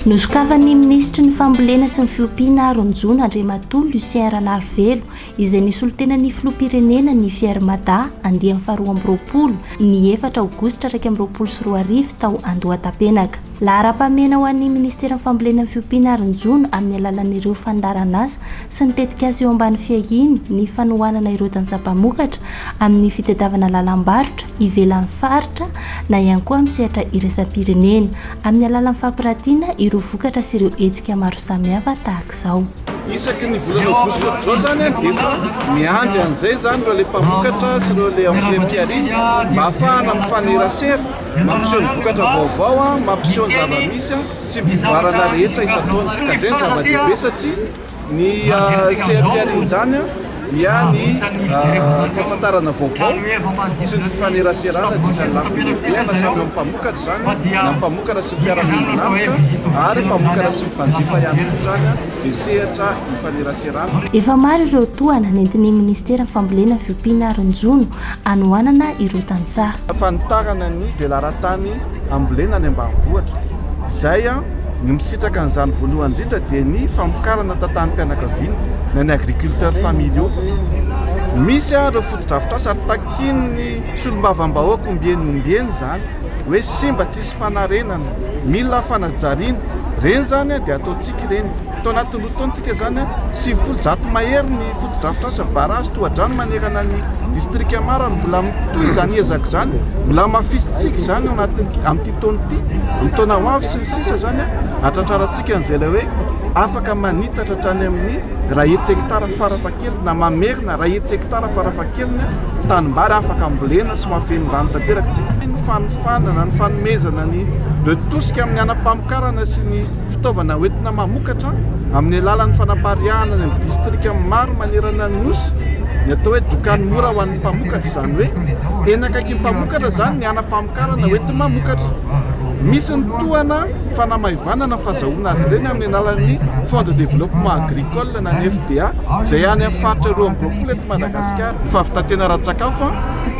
Nosokafan'ny minisitry ny fambolena sy ny fiompiana Ronjona Andriamatoa Lucien Ranarivelo izay nisolo tena ny filoham-pirenena ny Fier Mada andiany faharoa amby roapolo ny efatra aogositra iraika amby roapolo sy roa arivo tao Andohatapenaka. Laharam-pahamehana ho an'ny Ministeran'ny Fambolena ny fiompiana ary ny jono amin'ny alalan'ireo fandaharanasa sy ny tetikasa eo ambany fiahiany ny fanohanana ireo tantsaha mpamokatra amin'ny fitadiavana lalam-barotra ivelan'ny faritra na ihany koa amin'ny sehatra iraisam-pirenena amin'ny alalan'ny fampiratiana ireo vokatra sy ireo hetsika maro samihafa tahaka izao. isaky ny volana aogositra amin'izao izany dia efa miandry an'izay izany ireo le mpamokatra sy ireo le anciens mpiaria mba hahafahana mifanerasera Mampiseho ny vokatra vaovao, mampiseho ny zava-misy sy ny fivoarana rehetra isan-taona. Ka izay no zava-dehibe satria ny CNPL izany dia ny fahafantarana vaovao sy ny fifaneraserana dia isan'ny lafiny lehibe na samy amin'ny mpamokatra izany na ny mpamokatra sy ny mpiara-miombon'antoka ary mpamokatra sy ny mpanjifa ihany koa izany dia sehatra ifaneraserana. Efa maro ireo tohana nentin'ny Minisiteran'ny Fambolena, Fiompiana ary ny Jono hanohanana ireo tantsaha. Fanitarana ny velaran-tany ambolena any ambanivohitra. Izay, ny misitraka an'izany voalohany indrindra dia ny famokarana tantanim-pianakaviana na ny agriculteurs familiaux. Misy ireo fotodrafitrasa ary takian'ny solombavambahoaka ombieny ombieny izany hoe simba, tsisy fanarenana, mila fanajariana. Ireny izany dia ataontsika ireny. Tao anatin'ny roa taontsika izany, sivifolo, zato mahery ny fotodrafitrasa, barrage, tohadrano manerana ny distrika maro ary mbola mitohy izany ezaka izany. Mbola hamafisintsika izany anatin'ny amin'ity taona ity, amin'ny taona ho avy sy ny sisa izany, hahatratrarantsika an'izay ilay hoe afaka manitatra hatrany amin'ny iray hetsy hekitara farafahakeliny na mamerina iray hetsy hekitara farafahakeliny tanimbary afaka ambolena sy mahafeno rano tanteraka tsika. Ny fanofanana, ny fanomezana ny de tosika amin'ny hanam-pamokarana sy ny Fitaovana hoentina mamokatra amin'ny alalan'ny fanapariahana any amin'ny distrika maro manerana ny Nosy ny atao hoe dokany mora ho an'ny mpamokatra, izany hoe eny akaikin'ny mpamokatra izany ny hanam-pamokarana hoentin'ny mamokatra. Misy ny tohana fanamaivanana fazahoana azy ireny amin'ny alalan'ny Fonds de développement agricole na ny FDA izay any amin'ny faritra roa amby roapolo eto Madagasikara. Fahavitan-tena ara-tsakafo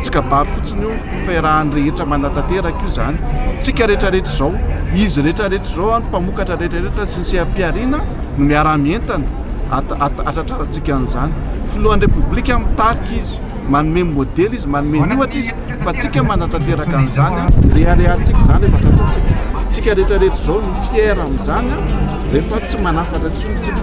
tsy kabary fotsiny io. Fahirahan'ny rehetra manatanteraka io izany. Tsika rehetra rehetra izao, izy rehetra rehetra izao, ny mpamokatra rehetra rehetra sy ny seha-pihariana no miara-mientana hatratrarantsika an'izany. Filohan'ny Repoblika mitarika izy, manome modely izy, manome ny ohatra izy fa tsika manatanteraka an'izany. Reharehantsika izany rehefa tratrantsika. Tsika rehetra rehetra izao no fier amin'izany rehefa tsy manafatra intsony tsika.